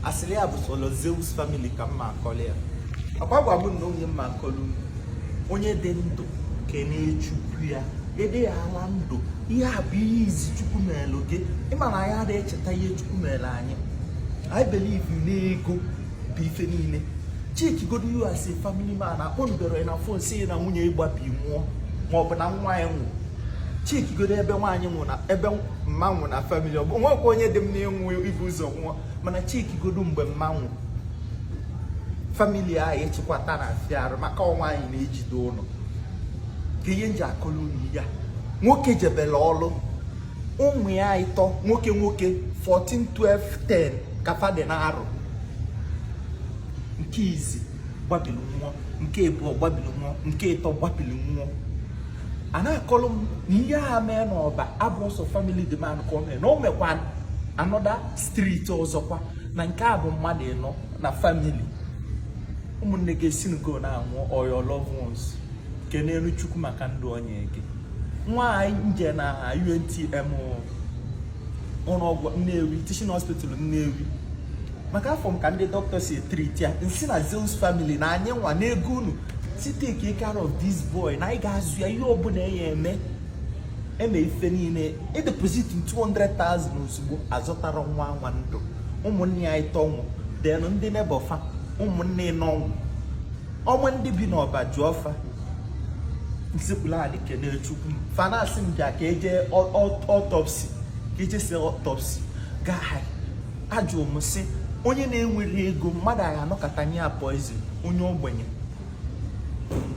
asịrị ya bụ solo Zeus family ka m na-akọlụ ya akwa gwa m na onye m na-akọlụ unu onye dị ndụ kene Chukwu ya ede ya ala ndụ ihe a bụ ihe izi Chukwu mere gị ị ma na anyị adịghị echeta ihe Chukwu mere anyị anyị believe na ego bụ ife niile cheki godu you as a family man akpọnubere na phone sị na nwunye ị gbabi nwụọ maọbụ na nwa ya nwụrụ cheki godu ebe nwaanyị nwụ na ebe mma nwụ na family ọ bụ nwekwa onye dị mma ịnwụ ibu ụzọ nwụọ mana cheki godu mgbe mma nwụ family ahụ ịchịkwata na-afịa arụ maka ọ nwaanyị na-ejide ụlọ ka ihe m ji akọlụ unu ya nwoke jebere ọlụ ụmụ ya ịtọ nwoke nwoke 14 12 10 ka fa dị na arọ nke izi gbabiri nwụọ nke abụọ gbabiri nwụọ nke ịtọ gbabiri nwụọ a na-akọrọ m na ihe a mee n'Ọba abụrọ sọ family the man ka o mee na o mekwa another street ọzọkwa na nke a bụ mmadụ ịnọ na family ụmụnne gị esi ngo na-anwụ or your loved ones kenelu Chukwu maka ndụ o nyee gị nwa nje na UNTM ụlọ ọgwụ Nnewi teaching hospital Nnewi maka afọ m ka ndị dọkịta si e-treat ya m sị na Zeus family na anyị nwa n'ego unu sị take care of this boy na anyị ga-azụ ya ihe ọbụla ya eme eme ife niile e deposit 200,000 ozugbo azọtarọ nwa nwa ndụ ụmụnne ya ịtọ nwụ then ndị neighbour fa ụmụnne ịnọ nwụ unu ma ndị bi n'Ọba jụọ fa m sekpulu anị kene Chukwu fa na-asị m bịa ka e je autopsy ka e jesi autopsy gaa ajụ m sị onye na-enwerọ ego mmadụ a ga-anọkata nye ya poison onye ogbenye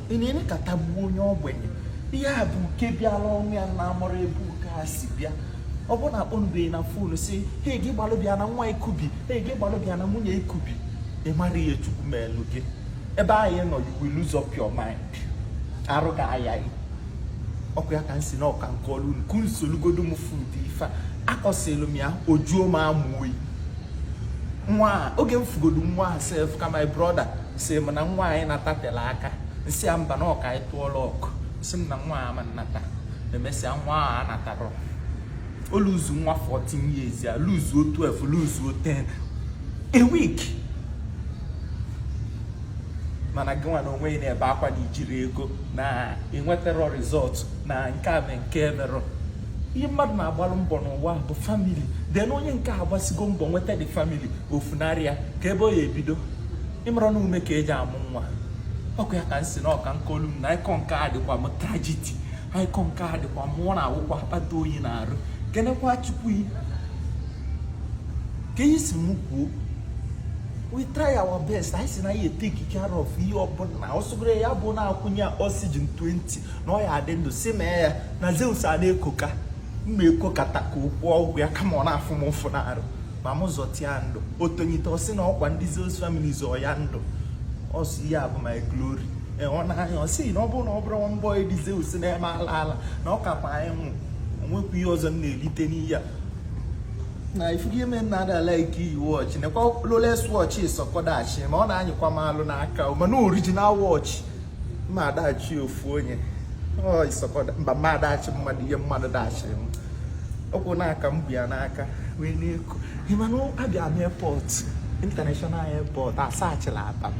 ị na-enekata gbuo onye ogbenye ihe a bụ uke bịara ụnọ ya na amarọ ebe uke a si bịa ọ bụrụ na akpọnubeghị na phone sị he gị gbalụ bịa na nwa ị kubi he gị gbalụ bịa na nwunye ị kubi ị mara ihe Chukwu melu gị ebe anyị nọ you will lose up your mind arụ ga-aya gị ọ ka ya ka m sị na ọ ka m kọlụ unu ka m solu godu m fụ ụdị ife a akọsịlụ m ya ọ jụọ m anụ oyi nwa oge m fụ godu nwa a sef ka my brother sị m na nwa anyị natatela aka m sị ya mba na ọ ka anyị tụọla ọkụ sị m na nwa a ma nata emesịa nwa ahụ anatarọ o luzu nwa 14 years ya luzuo 12 luzuo 10 a week mana gị nwa n'onwe ị na-ebe akwa na i jiri ego na enwetarọ result na nke a na nke emerụ ihe mmadụ na-agbalụ mbọ n'ụwa bụ family then na onye nke a gbasigo mbọ nweta the family o funarị ya ka ebe ọ ya ebido ị marọ na ume ka eji amụ nwa ọkụ ya ka m si na ọka nke olu na ịkọ nke a dịkwa m tragedy ịkọ nke a dịkwa mụ ọ na-awụkwa akpata oyi n'arụ kenekwa chukwu ka ihe si m kwuo we try our best anyị si na ya eteki care of ihe ọbụla ọ sọgoro ya bụ na-akwụnye ya oxygen 20 na ọ ya adị ndụ si mee ya na zeus a na-ekoka mma ekokata ka okwu ọ gwụ ya kama ọ na-afụ m ụfụ n'arụ ma m zọta ya ndụ otonyite ọ sị na ọ kwa ndị zeus family zọ ya ndụ ọ sị ya bụ my glory e, ọ na-anya ọ sị na ọ bụrụ na ọ bụrụ mbọ ndị zeus na-eme ala ala na ọ kakwa anyị nwụ o nwekwa ihe ọzọ m na-elite n'ihe a na ị fụgo ime na ada like iyi watch nekwa rolex watch sọkọdachi ma ọ na-anyịkwa m alụ n'aka mana original watch ma adachi ofu onye mba mma adachi mmadụ ihe mmadụ dachiri m ọkwụ n'aka m bụ ya n'aka wee na-eku ị manụ abịa m airport international airport asachila ata m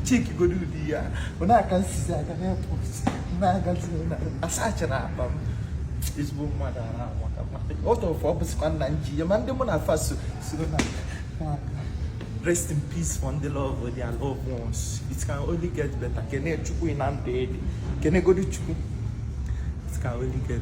chiki godo ụdị ya bụ na-aka nsizi aga n'airport na-agazi asachila ata m ezigbo mmadụ ara amaka m otu ofe ọ bụsịkwa nna m ji ya ma ndị mụ na fa so sọ na rest in peace for ndị lose their loved ones it can only get better kene chukwu na ndụ ị dị kenegodi chukwu it can only get